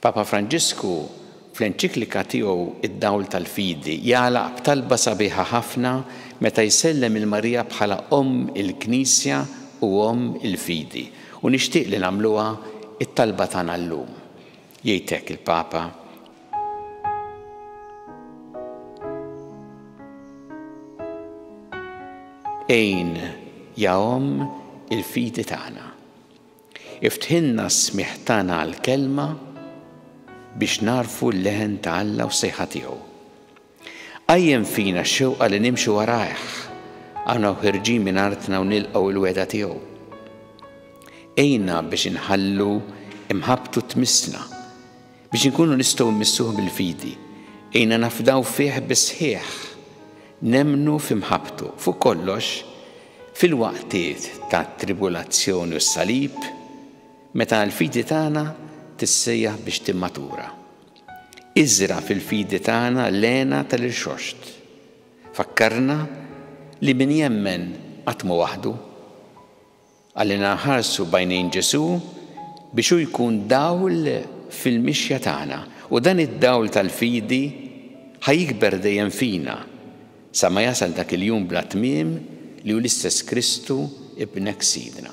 Papa Franġisku, fl-enċiklika tiegħu Id-Dawl tal-Fidi, jagħlaq b'talba sabiħa ħafna meta jsellem lil Marija bħala Omm il-Knisja u Omm il-Fidi, u nixtieq li nagħmluha t-talba tagħna llum. Jgħid hekk il-Papa. Għin, ja Omm il-Fidi tagħna. Iftħilna s-smigħ tagħna għall-Kelma biex nagħrfu l-leħen ta' Alla u s-sejħa tiegħu. Qajjem fina x-xewqa li nimxu warajh, aħna u ħirġin minn artna u nilqgħu l-wegħda tiegħu. Għinna biex inħallu mħabbtu tmissna. Biex inkunu nistgħu mmissuh bil-fidi, għinna nafdaw fih bis-sħiħ, nemmnu fi mħabbtu, fuq kollox, fil-waqtiet tat-tribulazzjoni u s-salib, meta l-fidi tagħna tissejjaħ biex timmatura. Iżra' fil-fidi tagħna l-hena tal-irxoxt. Fakkarna li min jemmen qatt mhu waħdu. Għallinna nħarsu b'għajnejn Ġesù biex hu jkun dawl fil-mixja tagħna u dan id-dawl tal-fidi ħa jikber dejjem fina sa ma jasal dak il-jum bla tmiem li hu l-istess Kristu Ibnek Sidna.